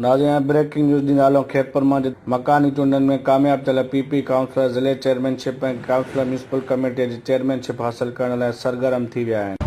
ناظرين هاڻي breaking news ڏينهن هلون خيرپور مان جتي مڪاني چونڊن ۾ ڪامياب ٿيل پي پي ڪائونسلر ضلعي chairmanship ۽ councillor municipal committee جي چيئرمين شپ حاصل ڪرڻ لاء سرگرم ٿي ويا آهن.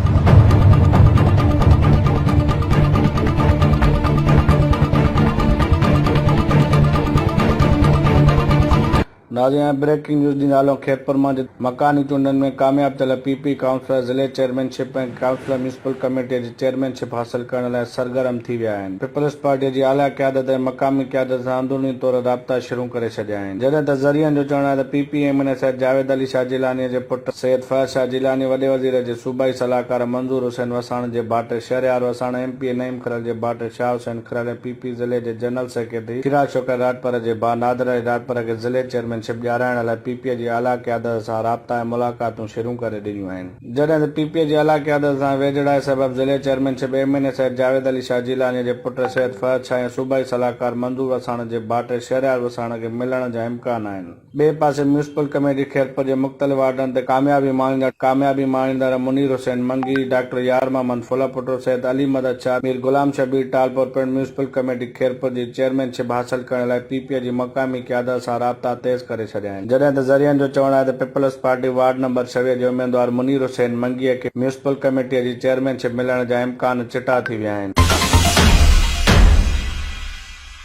ناظرين هاڻي بريڪنگ نيوز جي نالو خيرپور مان جتي مڪاني چونڊن ۾ ڪامياب ٿيل پي پي ڪائونسلر ضلعي chairmanship ۽ councillor municipal committee جي چيئرمين شپ حاصل ڪرڻ لاء سرگرم ٿي ويا آهن پيپلز پارٽي جي اعليٰ قيادت ۽ مقامي قيادت سان اندروني طور رابطا شرون ڪري ڇڏيا آهن جڏهن ته ذريعن جو چوڻ آهي ته P P M N A Syed Javed Ali Shah Jilani جي پٽ سيد فهد شاهه جيلاني وڏي وزير جي صوبائي صلاحڪار منظور حسين وساڻ جي ڀائٽي Shahryar Wassan M P A Naeem کلل جي ڀائٽي شاهه حسين کراڙي پي پي ضلعي جي جنرل سيڪريٽري شيرا شوڪت راڄپر جي ڀاء نادر علي راڄپر کي ضلعي چيئرمين شپ ڏيارائڻ لاء پي پي جي اعليٰ قيادت سان رابطا ۽ ملاقاتون شرون ڪري ڏنيون آهن، جڏهن ته پي پي جي اعليٰ قيادت سان ويجهڙائي سبب ضلعي chairmanship M N A Syed Javed Ali Shah جيلانيء جي پٽ سيد فهد شاهه ۽ صوبائي صلاحڪار منظور وساڻ جي ڀائٽي شهريار وساڻ کي ملڻ جا امڪان آهن. ٻئي پاسي ميونسپل ڪميٽي خيرپور جي مختلف وارڊن تي ڪاميابي ماڻيندڙ ڪاميابي ماڻيندڙ منير حسين منگي، ڊاڪٽر يار محمد ڦلپوٽو، سيد علي مدد شاهه، مير غلام شبير ٽالپر پڻ ميونسپل ڪميٽي خيرپور جي چيئرمين شپ حاصل ڪرڻ لاء پي پي جي مقامي قيادت سان رابطا تيز ڪري ڇڏيا آهن جڏهن ته ذريعن جو چوڻ آهي ته پيپلز پارٽي وارڊ نمبر ڇويهه جي اميدوار منير حسين منگي کي ميونسپل ڪميٽي جي چيئرمين شپ ملڻ جا امڪان چٽا ٿي ويا آهن.